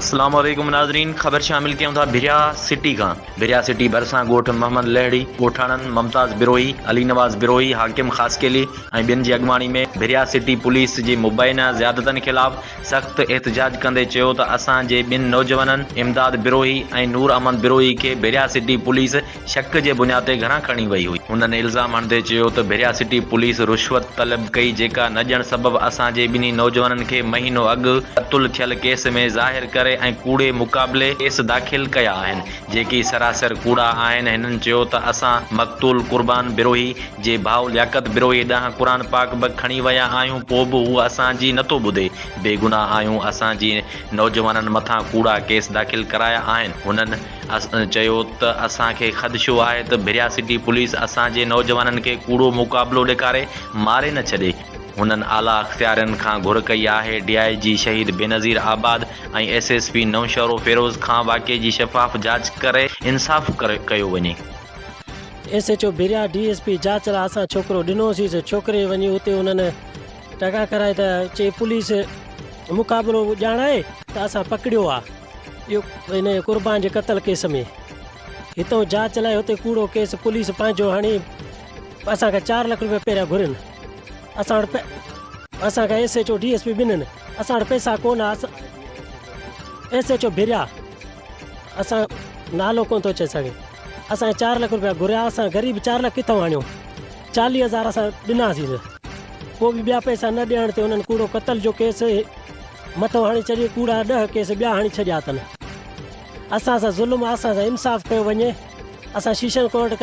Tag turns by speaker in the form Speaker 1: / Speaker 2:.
Speaker 1: السلام عليڪم ناظرين خبر شامل ڪيون ٿا ڀريا سٽي کان ڀريا سٽي ڀرسان ڳوٺ محمد لهڙي ڳوٺاڻن ممتاز بروهي علي نواز بروهي حاڪم خاصخيلي ۽ ٻين جي اڳواڻي ۾ ڀريا سٽي پوليس جي مبينا زيادتن خلاف سخت احتجاج ڪندي چيو ته اسان جي ٻن نوجوانن امداد بروهي ۽ نور احمد بروهي کي ڀريا سٽي پوليس شڪ جي بنياد تي گهران کڻي وئي هئي. هنن الزام هڻندي چيو ته ڀريا سٽي پوليس رشوت طلب ڪئي جيڪا نه ڏيڻ سبب اسان جي ٻنهي نوجوانن کي مهينو اڳ قتل ٿيل ڪيس ۾ ظاهر ڪري ۽ ڪوڙي مقابلي ڪيس داخل ڪيا آهن جيڪي سراسر ڪوڙا آهن هنن چيو ته اسان مقتول قربان بروهي جي ڀاء لياقت بروهي ڏانهن قرآن پاڪ به کڻي ويا آهيون پوء به هو اسان جي نٿو ٻڌي بيگناهه آهيون اسان جي نوجوانن مٿان ڪوڙا ڪيس داخل ڪرايا آهن هنن چيو ته اسان کي خدشو آهي ته ڀريا سٽي پوليس اسان جي نوجوانن کي ڪوڙو مقابلو ڏيکاري ماري نه ڇڏي، هنن اعليٰ اختيارين کان گهر ڪئي آهي D I G Shaheed Benazirabad ۽ S S P Naushahro Feroze کان واقعي جي شفاف جاچ ڪري انصاف ڪيو وڃي. S
Speaker 2: H O Bhiria D S P جاچ لاء اسان ڇوڪرو ڏنو سيس ڇوڪري وڃي اتي انهن ٽڪا ڪرائي ته چئي پوليس مقابلو ڄاڻائي ته اسان پڪڙيو آ. انهيء قربان جي قتل ڪيس ۾ هتئون جاچ لاء هتي ڪوڙو ڪيس پوليس پنهنجو هڻي اسان کان چار لک روپيا پهريان گهرين اسان وٽ اسان کان S H O D S P ٻنهن اسان وٽ پئسا ڪون ايس ايچ او ڀريا اسان نالو ڪون ٿو اچي سگهي اسان چار لک روپيا گهريا اسان غريب چار لک ڪٿو آڻيو چاليهه هزار اسان ڏناسين نه پوء به ٻيا پئسا نه ڏيڻ تي انهن ڪوڙو قتل جو ڪيس مٿو هڻي چريو ڪوڙا ڏهه ڪيس ٻيا هڻي ڇڏيا اٿن اسان سان ظلم آ اسان سان انصاف ڪيو وڃي اسان شيشن ڪورٽ